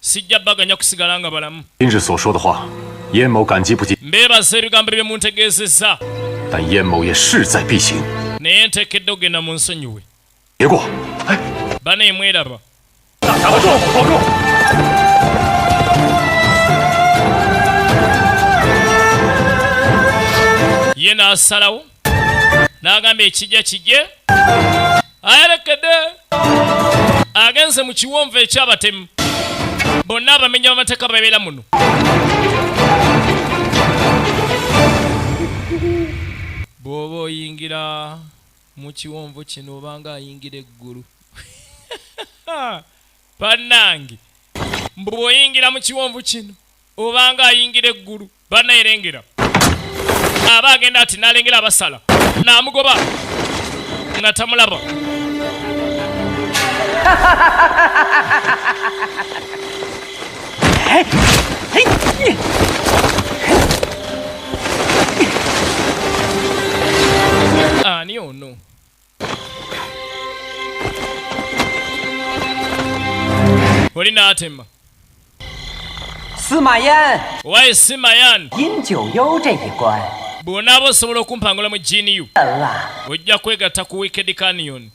sijja baganya kusigala nga balamu mbeebaza ebigambo bye muntegeezezza naye nteekedde okugenda mu nsonyiwe bana emweraba ye n'asalawo n'agamba ekijja kijje ayerekedde agenze mu kiwonvu eky'abatemu bonna abamenya bamateeka babeera muno bw'oba oyingira mu kiwonvu kino obanga ayingira eggulu bannange mbu bw'oyingira mu kiwonvu kino obanga ayingira eggulu bana erengera aba agenda ati nalengera abasala namugoba nga tamulaba ani ono oli n'atema owaye simayan bwonaaba osobola okumpangula mu jiini yo ojja kwegatta ku wikedi kanion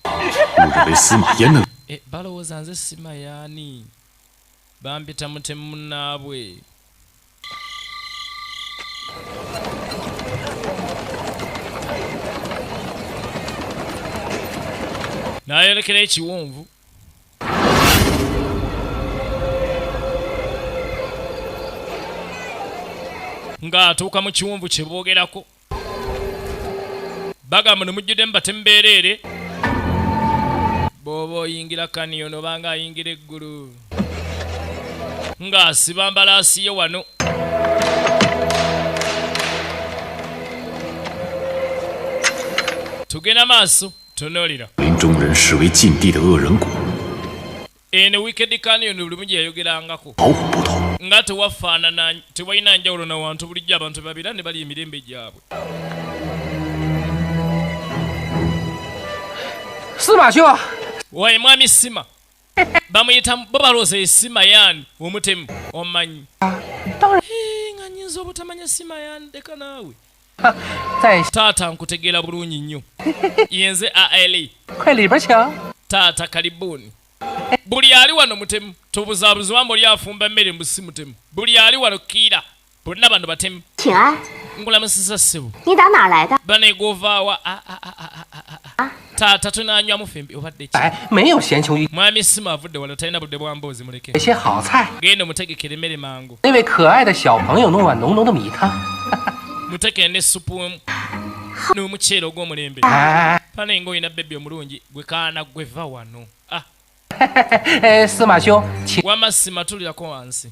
eh, balowooza nze simayani Bampita mutemu munnaabwe. N'ayolekera ekiwonvu. Ng'atuuka mu kiwonvu kye boogerako. bagamba ne mujjudde mu batemu beereere bw'oba oyingira kaniyo noba nga ayingira eggulu ng'asiba mbalaasi ye wano tugenda maaso tunuulira eno wicked canyon buli mugi yayogerangako nga tewafaanana tewalina njawulo na wantu bulijjo abantu babira ne bali emirembe gyabwe waye mwami sima bamuyita bo balooza esima yani omutemu omanyi ah, nga nyinza obutamanya sima yani leka naawe taata nkutegeera bulungi nnyo yenze aali taata kalibuuni buli ali wano mutemu tobuzabuzibwa muli afumba emmere mbu si mutemu buli ali wano kiira bonna bano batemu ngulamusiza ssebo banegwovaawa taata tunanywamu fembi obadde ki eh, mwami sima avudde wala talina budde bwa mboozi muleke genda omutegekera emmere mangu mutekere ne supu n'omuceere ogw'omulembe ah. fana nga olina bebi omulungi gwe kaana gwe va wano ah. eh, wama simatulirako wansi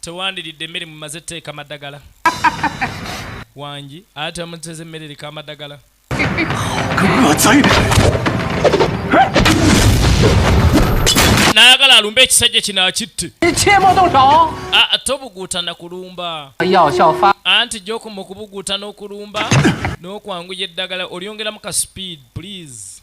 tewandiridde emmere mumaze tteeka madagala wangi ate amuteza emmere eriko amadagala nayagala alumbe ekisajja kino akitte ate obuguutana kulumba anti gyokuma okubuguuta n'okulumba n'okwanguya eddagala olyongeramu ka speed please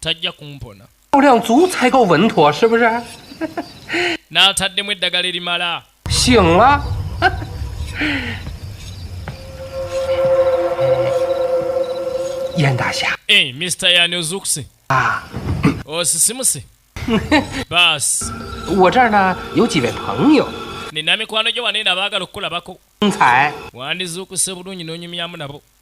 tajja kumpona n'ataddemu eddagala erimala eh, mr yani ozukuse ah. osisimuse basi nina mikwano gyo wanene abaagala okukulabako wandizuukuse bulungi n'onyumyamu nabo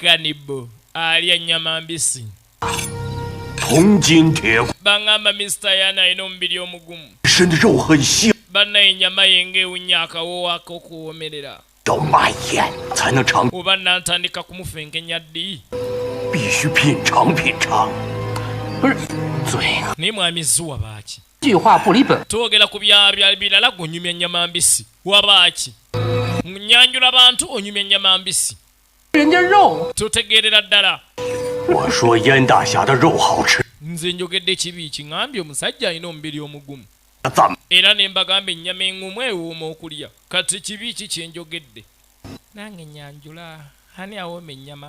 kanibo alya nyama mbisi bangamba mister yana alina omubiri omugumu banna enyama yenga ewunya akawowaka okuwomerera oba nantandika kumufenkenya ddi naye mwami zuwa baaki twogera ku byabya birala gunyumya nyama mbisi wabaaki nyanjula bantu onyumya nyama mbisi totegeerera ddala nze njogedde ekibi kiŋambye omusajja alina omubiri omugumu era ne mbagamba ennyama eŋumu ewooma okulya kati kibi ki kyenjogedde nange nyanjula ani awooma ennyama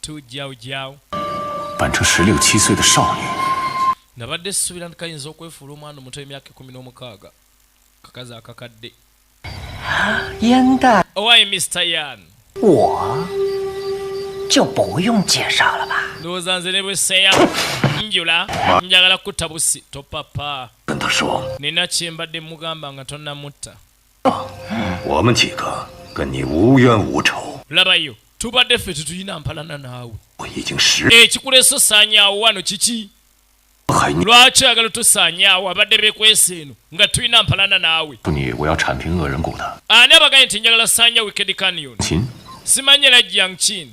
to Jiao Jiao. Nabadde sisuubira nti kayinza okwefuula omwana omuto emyaka ekumi n'omukaaga kakazi akakadde owaye Mr. Yan ndowooza nze ne bweseya njula njagala kutta busi topapa nina kyembadde mugamba nga tonnamutta labayo tubadde ffe tetulina mpalana naawe ekikulesa osaanyaawo wano kiki lwaki oyagala otusaanyaawo abadde bekwesa eno nga tulina mpalana naawe ani abaganye nti njagala saanya wikedi canion simanyi era jiang chin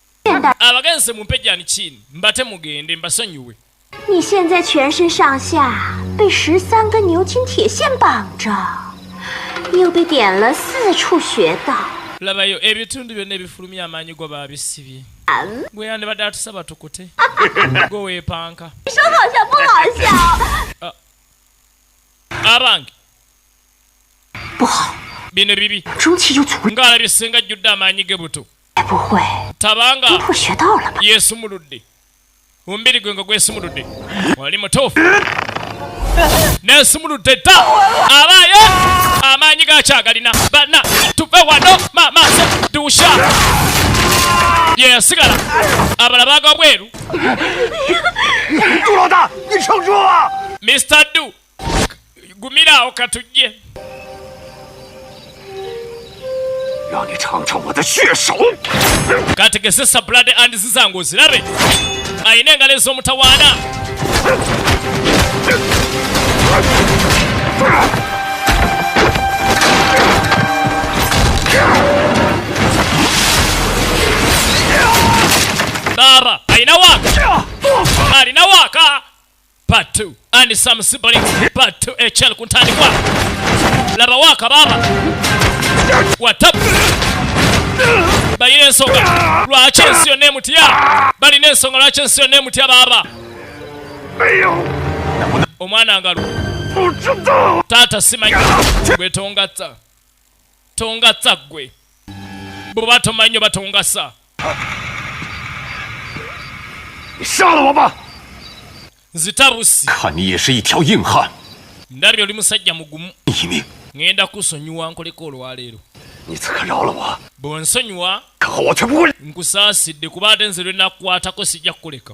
abagenze mumpe jani chini mbate mugende mbasonyiwe labayo ebitundu byonna ebifulumya amaanyi go babisibye gwe yandibadde atusaba tukute gwe weepanka ah. abange bino bibi ng'alabye senga ajjudde amaanyi ge buto tabanga yesumuludde omubiri gwe nga gwesumuludde wali mutuufu nesumuludde dda abaayo amaanyi gakyagalina bana tuve wano mamaaso dusha yeyasigala abala baga bweru mr du gumira awo katujje kategese sablade and zizange ozirabe ayina engalo ez'omutawaana Dara, ayina waka! Alina waka! part 2 and some siblings part 2 echel eh, kuntandikwa laba waka baba watap balina ensonga lwaki ensi yonna emutya balina ensonga lwaki ensi yonna emutya baaba omwana ngalu taata simanyi gwetongatta tongatsa ggwe bw'oba tomanyi oba tongasa nzita busi ndabye oli musajja mugumu ŋenda kusonyiwa nkoleko olwaleero bw'onsonyiwa nkusaasidde kuba ate nze lwenakukwatako sijja kukuleka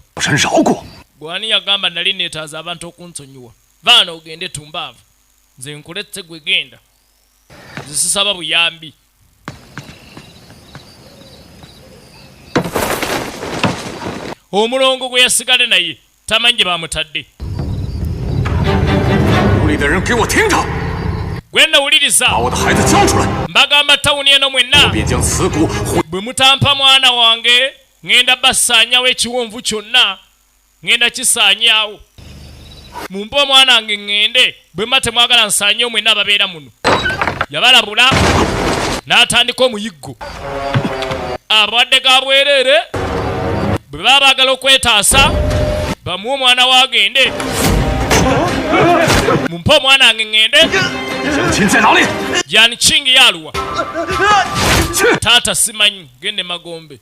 gwani yagamba nali neetaaza abantu okunsonyiwa vaana ogende tumbaavu nze nkuletse gwe genda zisisaba buyambi omulongo gwe yasigale naye tamanyi gye bamutadde gwenda wuliriza mbagamba tawuni eno mwenna bwe mutampa mwana wange ŋenda basaanyawo ekiwonvu kyonna ŋŋenda kisaanyaawo. Mumpe omwana wange ŋŋende, bwe muba temwagala nsaanyeewo mwenna ababeera muno. Yabalabula n'atandika omuyiggo. Abalwadde ga bwereere bwe baba baagala okwetaasa bamuwe omwana we agende. Mumpe omwana wange ŋŋende. Yan Ching yaaluwa. Taata simanyi, gende magombe.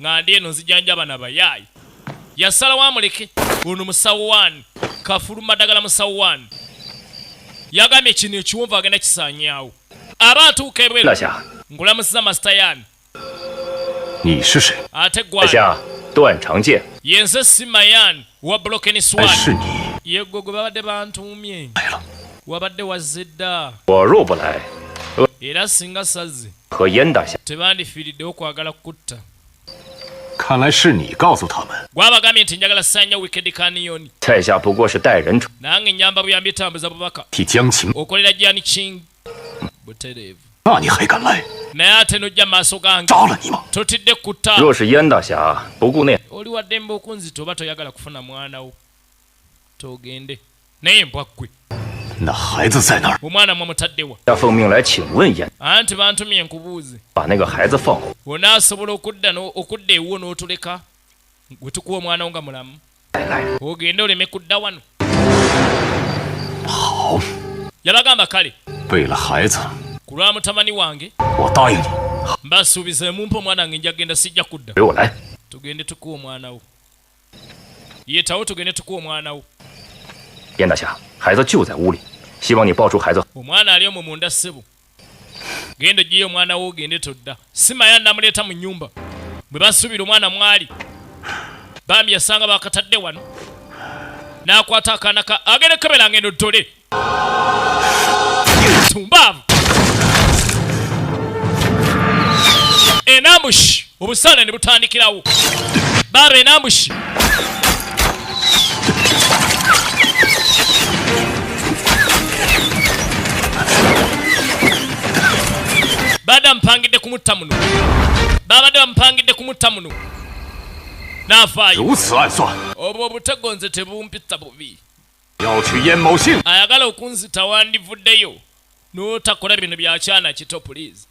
nga ndi eno nzijanjaba na bayaayi yasalawo amuleke ono musawo wani kafulu madagala musawo wani yagambye kino ekiwonvu agenda kisanyawo aba atuuka ebweru ngulamusiza masita yani ate gwani yenze si mayani wa bulokeni swani yegwe gwe babadde bantuumye wabadde wazze dda era singa sazze tebandifiiriddewo kwagala kukutta gwabagambye nti njagala sanya wikedi kaniyoni nange nyamba buyambi etambuza bubaka okolera jani king butereevu naye ate nojja maaso gange totidde kutta oli waddembe okunzita oba toyagala kufuna mwanawo togende naye mbwa ggwe omwana mwamutaddewa anti bantumye nkubuuze onaasobola okudda okudda ewuwo n'otuleka gwe tukuwa omwana wo nga mulamu ogende oleme kudda wano yabagamba kale ku lwa mutabani wange mbasuubiza emumpa omwana wange nja kugenda sijja kudda tugende tukuwa omwana wo yetawo tugende tukuwa omwana wo omwana ali omwo munda ssebo genda ogiyo omwana wo ogende todda simaya namuleeta mu nyumba bwe basuubira omwana mwali bambi yasanga bakatadde wano n'akwata akaana ka agende kebera ngendo ddole tumbaavu enambushi obusaale ne butandikirawo baaba enambushi baabadde bamupangidde kumutta muno baabadde bamupangidde kumutta muno n'afaayo obwo obutego nze tebumpitta bubi ayagala okunzita wandivuddeyo notakola bino byakyana kito please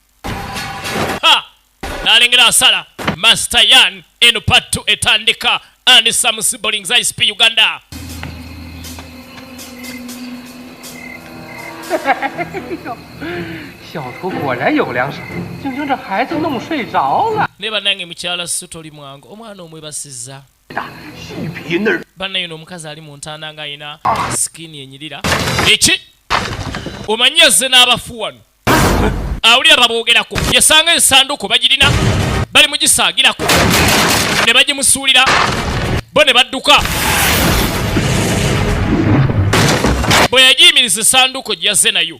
nalengera asala master yan eno part 2 etandika and some siblings isp uganda ne banange mukyala sutoli mwange omwana omwebasiza bannaye no omukazi ali mu ntanda nga alina sikini enyirira eki omanyi yazze n'abafu wano awulira baboogerako yasanga ensanduko bagirina bali mugisaagirako ne bagimusuulira bo ne badduka bwe yagiyimiriza esanduko gyeyazze nayo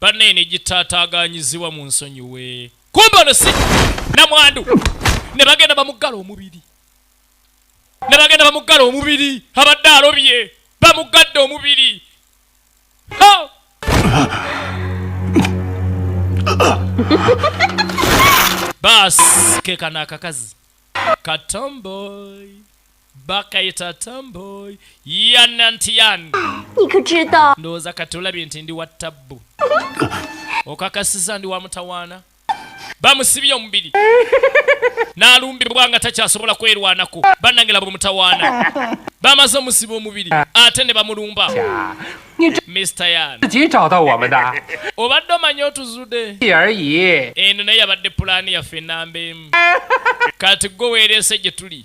banaye negitaataaganyizibwa mu nsonyiwe kumba ono si namwandu ne bagenda bamuggala omubiri ne bagenda bamuggala omubiri abadde alobye bamuggadde omubiri baasi kekano akakazi katomboy bakayita tamboy yanantiyan ndowooza kati olabye nti ndi wa tabbu okakasiza ndi wa mutawaana bamusibye omubiri n'alumbibwa nga takyasobola kwerwanako bannange laba omutawaana bamaze omusiba omubiri ate ne bamulumba obadde omanya otuzude eno naye yabadde pulaani yaffe enamba emu kati gwe weereese gye tuli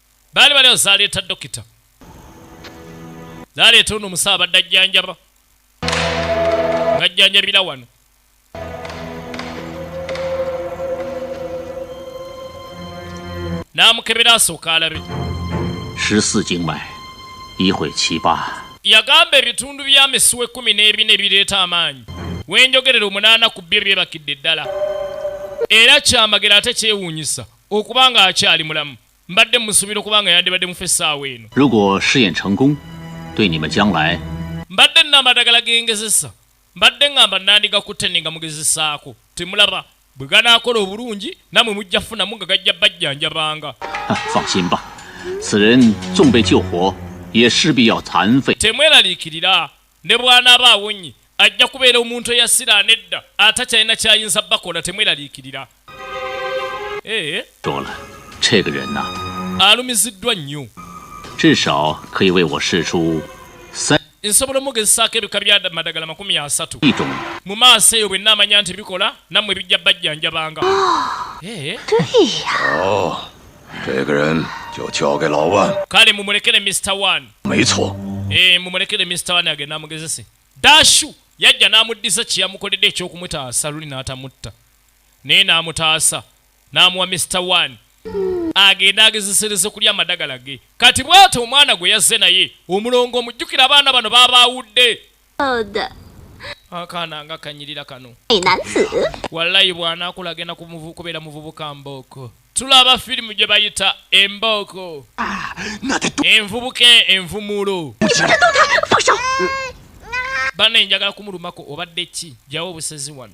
baali baliwo zaleeta dokita zaleeta ono omusawo abadde ajjanjaba nga ajjanjabira wano n'amukebera asooka alabe yagamba ebitundu bya misuwa ekkumi n'ebina ebireeta amaanyi wenjogerera omunaana ku byo byebakidde ddala era kyamagero ate kyewuunyisa okuba ng'akyali mulamu mbadde musuubira okuba nga yandibadde mufa essaawa eno mbadde nna amadagala gengezesa mbadde ngamba nandigakutte ne nga mugezesaako temulaba bwe ganaakola obulungi namwe mujja funamu nga gajja bajjanjabanga temweraliikirira Ne bw'anaaba awonye, ajja kubeera omuntu eyasiraana edda, atakyalina ky'ayinza bakola. Temweraliikirira. Eeh. Alumiziddwa nnyo. Nsobola omugezesaako ebika bya madagala makumi asatu. Mu maaso eyo bwe nnaamanya nti bikola, nammwe bijja bajjanjabanga. Eeh. kale mumulekere mr one eh, mumulekere mr one agenda amugezese dashu yajja n'amuddiza kyeyamukoledde ekyokumutaasa luli n'atamutta naye n'amutaasa n'amuwa mr one agenda agezesereze kulya amadagala ge kati bwati omwana gwe yazze naye omulongo omujjukira abaana bano babaawudde akaana nga kanyirira kano wallayi bwanakula agenda kubeera muvubuka mbooko tulaba firimu gye bayita embooko ah, envubuka envumulo bana enjagala kumulumako obadde ki jawo obusezi wano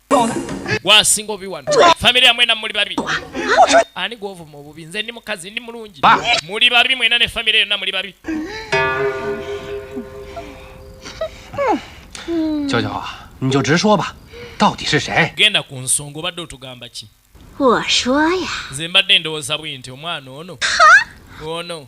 gwasinga obi wano famiry ya mwena muli babi ani gwovuma obubi nze ndi mukazi ndi mulungi muli babi mwena ne famiry yonna muli babi genda ku nsonga obadde otugamba ki nze mbadde ndowooza bwi nti omwana ono ono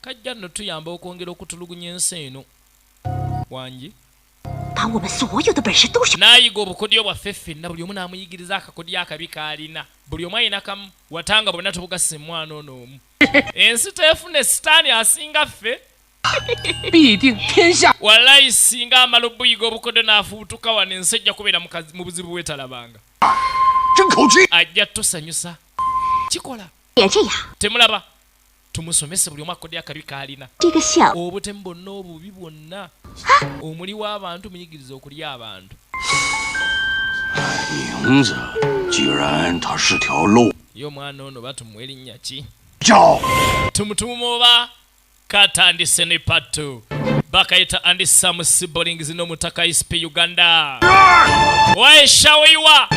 Kajja nno tuyamba okwongera okutulugunya ensi eno. Wangi. N'ayiga obukodyo bwaffe ffenna buli omu n'amuyigiriza akakodyo akabi k'alina. Buli omu alina kamu watanga bonna tubugasa emwana ono omu. Ensi teefune sitaani asinga ffe. Walayi singa amala obuyiga obukodyo n'afubutuka wano ensi ejja kubeera mu buzibu bwetalabanga. Ajja tusanyusa. Kikola. Temulaba. tumusomese buli omu akodde akabi kaalina obutemu bonna obubi bwonna omuli w'abantu muyigiriza okulya abantu ye omwana ono batumuwa erinnya ki tumutuma oba katandise ne pattu bakayita andi samu sibolings n'omutaka isp uganda waeshawoiwa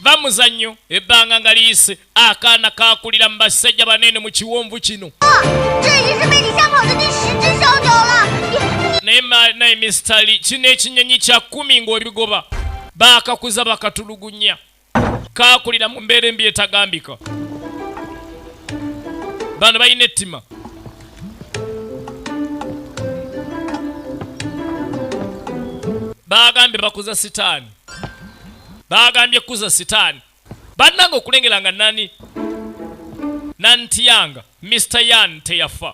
bamuzannyo ebbanga nga liyise akaana kaakulira mu basajja banene mu kiwonvu kino naye mistali kino ekinyonyi kya kumi ng'obigoba baakakuza bakatulugunya kaakulira mu mbeera embi etagambika bano balina ettima baagambye bakuza sitaani baagambye kuza sitaani bannange okulengera nga nani nantiyanga mr yan teyafa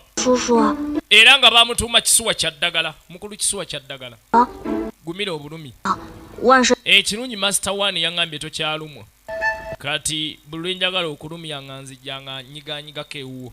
era nga bamutuuma kisuwa kya ddagala mukulu kisuwa kya ddagala ah. gumira obulumi ah. ekirungi master one yaŋambye tokyalumwa kati bulwenjagala okulumya nga nzijanga nyiganyigako ewuwo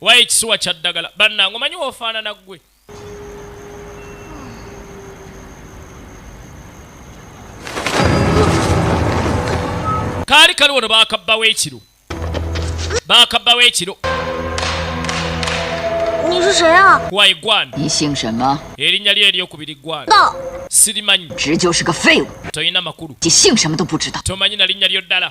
wayo ekisuwa kya ddagala bannange omanyi wofaanana ggwe kaali kali wano bakabbawo ekiro bakabbawo ekiro wayi gwan erinnya lyo eryokubiri gwan sirimanyi tolina makulu tomanyi na linnya lyo ddala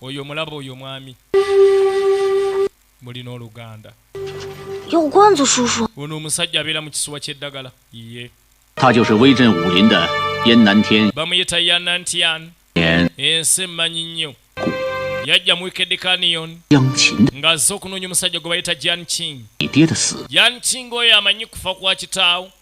oyo omulaba oyo omwami mulina oluganda ono omusajja abeera mu kisuwa ky'eddagala ye bamuyita yanantian ensi emmanyi nnyo yajja mu wikedi kanion nga azze okunoonya omusajja gwe bayita jan ching jan ching oyo amanyi kufa kwa kitaawo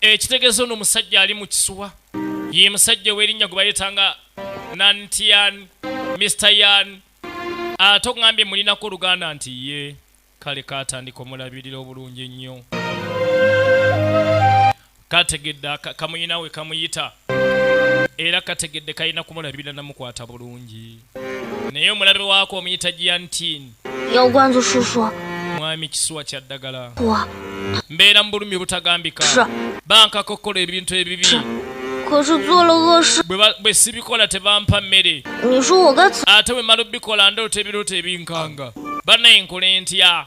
ekitegeza ono musajja ali mu kisuwa ye musajja ow'erinnya gwe bayetanga nantian mr yan ate ogambye mulinako oluganda nti ye kale katandika omulabirira obulungi ennyo kategedde kamuyinawe kamuyita era kategedde kalina kumulabirira namukwata bulungi naye omulabe waako omuyita giantin mwami kisuwa kya ddagala mbeera mu bulumi butagambika bankakokkola ebintu ebibi bwe sibikola tebampa mmere ate bwe mala obikola ndoota ebiroota ebinkanga banaye nkole ntya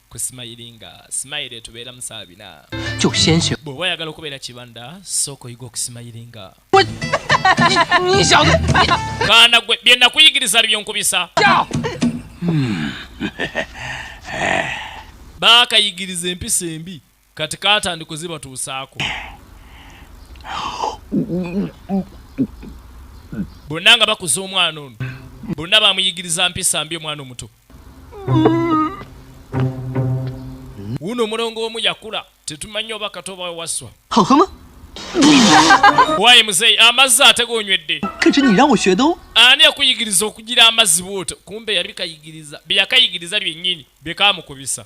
ku simayiringa simayira etubeera musaa bina bw'oba oyagala okubeera kibanda sooka oyiga okusimayiringa kaana gwe bye nakuyigiriza bibyo nkubisa baakayigiriza empisa embi kati katandi kuzibatuusaako bonna nga bakuza omwana ono bonna bamuyigiriza mpisa mbi omwana omuto wuno omulongo omu yakula tetumanyi oba kato oba wewaswa wayi muzeeyi amazzi ate gonywedde ani yakuyigiriza okugira amazzi bwoto kumbe yali kayigiriza byeyakayigiriza byennyini byekamukubisa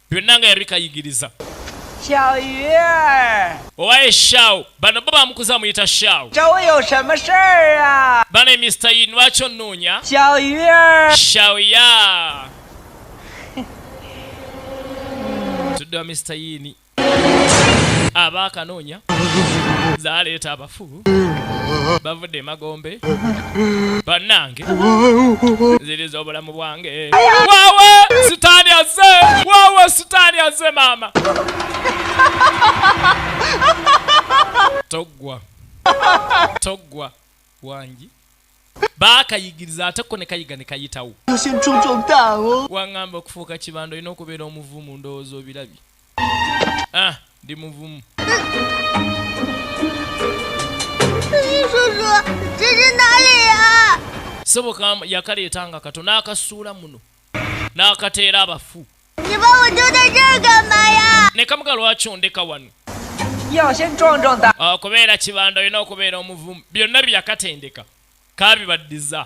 byonna nga yabikayigiriza owaye shaw bano bo bamukuza amuyita shaw bano mr yi lwaki onoonya shaw ya tuddewa mr yini aba akanoonya zaleeta abafu bavudde emagombe bannange ziriza obulamu bwange wawa sitaani azze wawa sitaani azze maama toggwa toggwa wangi baakayigiriza ate ko ne kayiga ne kayitawo waŋŋamba okufuuka kibanda olina okubeera omuvumu ndowooza obirabye ah, ndi muvumu soboka yakaleeta nga kato n'akasuula muno n'akateera abafu ne kamuga lwaki ondeka wano okubeera ah, kibanda olina okubeera omuvumu byonna byeyakatendeka kabibaddiza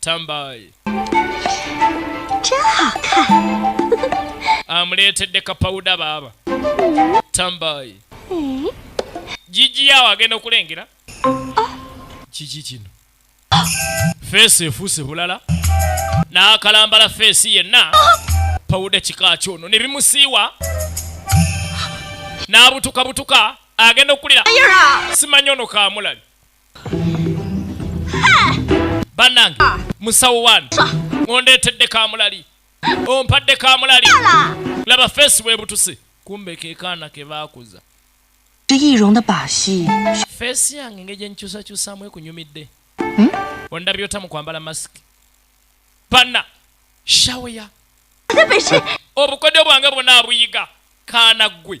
tambaye amuleetedde kapawuda baaba tambaye jiji yawo agenda okulengera kiki kino feesi efuuse bulala n'akalambala feesi yenna pawuda kika kyono ne bimusiiwa n'abutukabutuka agenda okukulira simanyi ono kamulabi banange musawo wani ondeetedde kamulali ompadde kamulali laba feesi webutuse kumbe kekaana ke baakuza feesi yange nge gyenkyusakyusaamu ekunyumidde hmm? ondabye otamu kwambala masiki bana shaweya obukodyo bwange bwona abuyiga kaana ggwe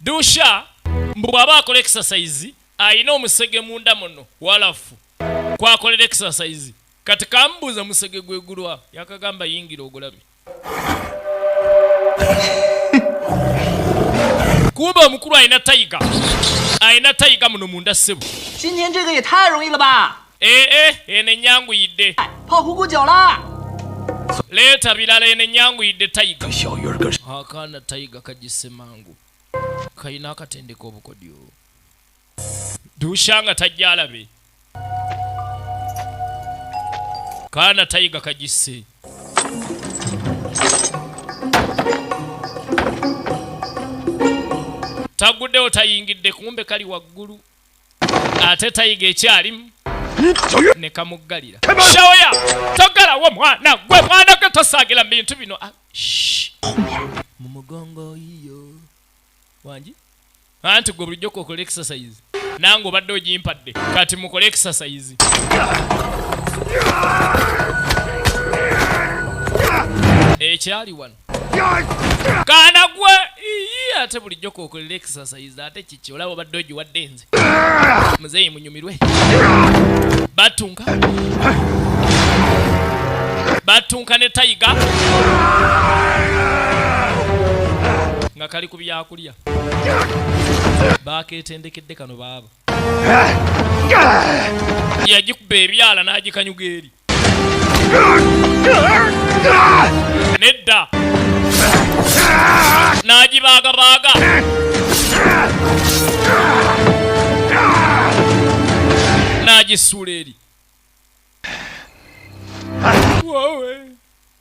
dusha mbu bw'aba akola exercise alina omusege munda muno walafu kwakolera exercise kati kamubuuza musege gwegulwa yakagamba yingira ogulabi kumbe omukulu alina tayiga alina tayiga muno munda ssebo Eh, eh, eno enyanguyidde leeta birala eno enyanguyidde tayiga akaana tayiga kagisse mangu kalina akatendeka obukodyo duusha nga tajja alabe kaana tayiga kagisse taguddewo tayingidde kumbe kali waggulu ate tayiga ekyalimu nekamuggalira shaoya togalawo mwana gwe mwana gwe tosaagila mu bintu bino ah, mu mugongo iyo wangi anti gwe bulijjo kokola exercise nange obadde ogimpadde kati mukole exercise ekyali wano kaana gwe iyi ate bulijjo kokolera exercise ate kiki olaba obadde ogiwadde nze muzeeyi munyumirwe batunka batunka ne tayiga nga kali ku byakulya baaketendekedde kano baaba yagikuba ebyala n'agikanyuga eri nedda n'agibaagabaaga n'agisuula eri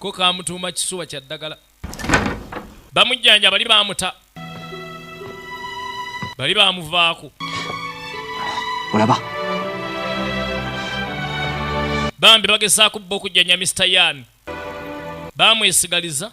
ko kamutuuma kisuwa kya ddagala bamujjanja bali bamuta bali bamuvaako olaba bambi bagezaako bba okujjanya mr yan bamwesigaliza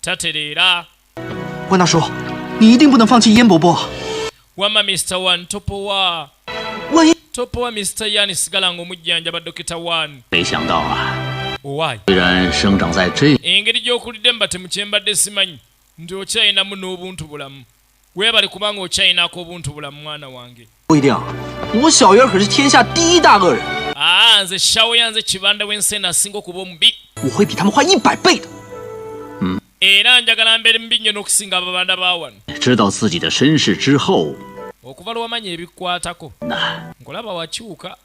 tatereera wama mr one topowa topowa mr yan sigala nga omujjanjaba dokita one engeri gy'okulidde mu batemukyembadde simanyi nti okyayinamu n'obuntu bulamu Webale kubanga okyayina akobuntu bulamu mwana wange. Ah, nze shawo yanze kibanda wensena asinga okuba omubi. Hmm. Era njagala mbeere mubi nnyo n'okusinga ababanda ba wano. Okuva lwewamanya ebikwatako. Nkulaba wakyuka.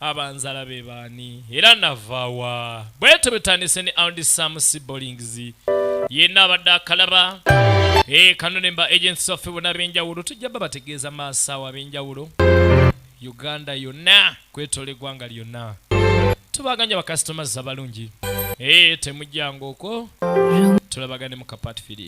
abanzala be baani era navaawa bwetyo bwetandise ne aundi sam sibolings yenna abadde akalaba eh, kano ne mba agensi waffe bona ab'enjawulo tujja ba bategeeza maasaawo ab'enjawulo uganda yonna kwetola eggwanga lyonna tubaganya bakasitomazi abalungi eh, temujjanga okwo tulabagane mu kapatfiri